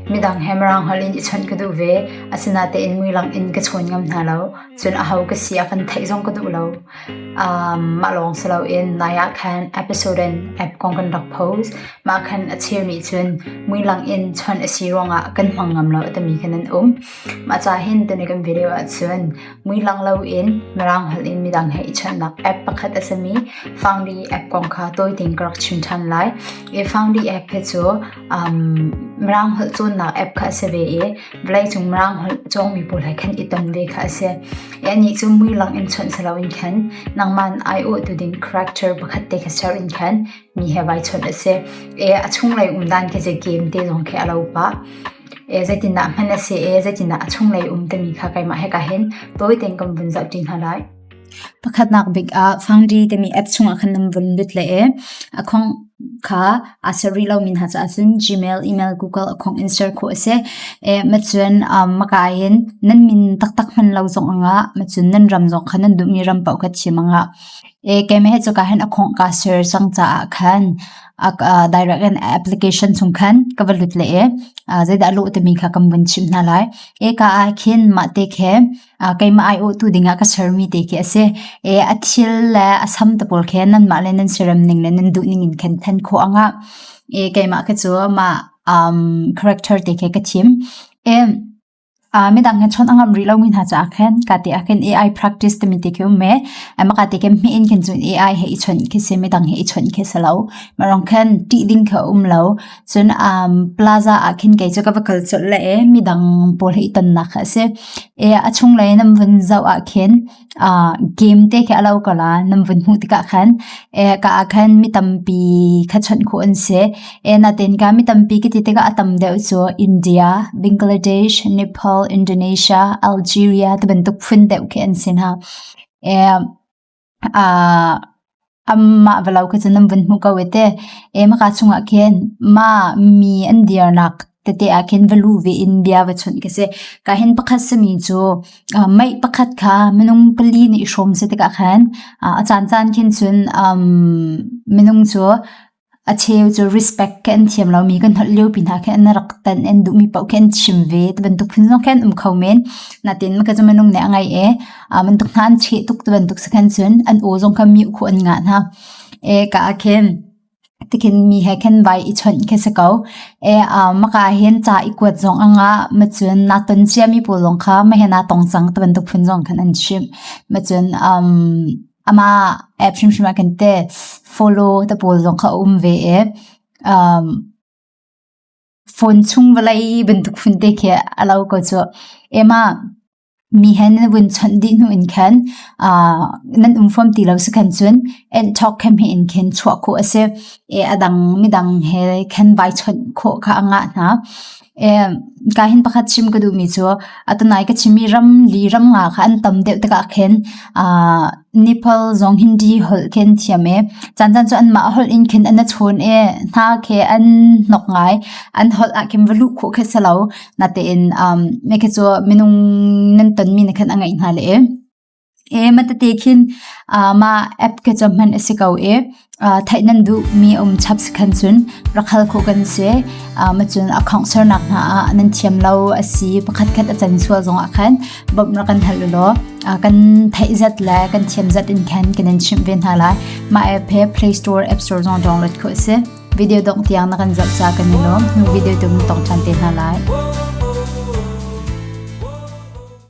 Midang he Mirang holh in i chawnh ka duh ve. Asinatein muilang in ka chawn ngam hna lo. Cun aho ka si a kan theih zong ka duh lo. mah lawng si loin nai ah khan episode in app kong kan rak post. Mah khan a cheu nih cun muilang in chawnh a si ruangah kan hmang ngam lo timi khan an um. Mah ca hin tuni kan video ahcun muilang loin Mirang holh in midang he i chawnhnak app pakhat a simi Foundry app kong kha tawi tein ka rak chim ṭhan lai. Foundry app hi cu Mirang holh cawnnak app kha a si ve i vawleicung Mirang holh cawngmi pawl he khan i tom ve kha a si. Anih cu mui lak in chawnh si loin khan nangman aiawhtu ding character pakhat te kha ser in khan mi he vai chawnh a si. A chunglei umdan khi zei game te zong khi a lo pah. Zeitindah hman a si i zeitindah a chunglei um timi kha keimah he ka hin tawi tein kan vun zoh ṭi hna lai. Pakhatnak bik ah Fangdi timi app chungah khan nan vun lut le e. A khong kha aa ser rih lomi hna caah cun Gmail, email, Google a khong in ser khawh a si. E, ma cun um, maka in nan min taktak hman lo zong angah, ma cun nan ram zong khan nan duhmi ram paoh kha chim angah. E, keime he cuka hin a khong kaa ser cang caah khan a direct in application chung khan ka va lut le e. Zeidah a lawh timi kha kan vun chim hna lai. E ka ah khin mah te khe keimah aiawhtu dingah ka sermi te khi a si. A thil le a sam te pawl khi nanmah le nan siarem ning le nan duhning in khin then khawh a ngah. Keimah khi cu mah character te khi ka thim. Midang hin chon a ngam rih lomi hna caah khin kate ah khin AI practice timi te khi um me. Makate khin hmiin khin cun AI he i chawnh khi si, midang he i chawnh khi si lo. Marang khin tih ding khi um lo. Cun um plaza ah khin kei cu ka va kal colh le e midang pawl hi i tonnak kha a si. E a chung lei nan vun zoh ah khin uh game te khi a lo ko la nan vun hmuh tikah khan e ka ah khan mi tampi kha chawnh khu an si. E natin ka mi tampi ki ti tikah a tam deuh cu India, Bangladesh, Nepal, Indonesia, Algeria ti bantuk phun deuh khi an si hna. E Amah va lo kha cu nan vun hmu ko e te. Hmaka chungah khin mah mi an dirnak tete ah khin va lu ve in bia va chunh khi si. Ka hin pakhat sami cu mei pakhat kha minung pali nih i hrawm si tikah khan a caancaan khin cun minung cu A cheu cu respect khi an thiam lomi kan holh liopi hna khi an rak tan an duhmi paoh khi an chim ve. Ti bantuk phun zong khi an um kho men. Natin ka cu minung nih a ngai e. Ah bantuk hna an cheh tuk ti bantuk si khan cun an aw zong kha miuh khu an ngah hna. E ka ah khin tikhin mi he khin vai i chawnh khi si ko. E ah maka hin ca i kuat zong a ngah. Ma cun naa ton ciami pawl zong kha ma he naa tong cang ti bantuk phun zong khan an chim. Ma cun um Amah app hrimhrim ah kan teh follow te pawl zong kha a um ve i um phone chung vawlei bantuk hun te khi a lo ko cu. Emah mi hen na vun chawnh dih hnu in khan uh nan um fom ti lo si khan cun and talk khem he in khin chuah khawh a si i a dang midang he khan vai chawnh khawh kha a ngah hna. Ka hin pakhat chim ka duhmi cu atanai ka chimmi ramli ramnga kha an tam deuh tikah khin Nepal zong Hindi holh khin thiam i caancan cu anmah holh in khin an achun i hna khi an nok ngai. An holh ah khin va luh khawh khi si lo. Natein mekhe cu minung nan tonmi ni khan a ngeih hna le. E matete khin ah mah app ke cu hman a si ko i ah theih nan duhmi a um chap si khan cun rak hal khawh kan si. Ah macun a khawngsernak hna ah nan thiam lo a si pakhat khat a can sual zongah khan bawmh rak kan hal u law ah kan theih zat le kan thiam zat in khan kanan chimh ve hna lai. Mah app he Play Store, App Store zong download khawh a si. Video dongh tiang na kan zoh ca kan i lawm. Nu video tu mun tong ṭhan te hna lai.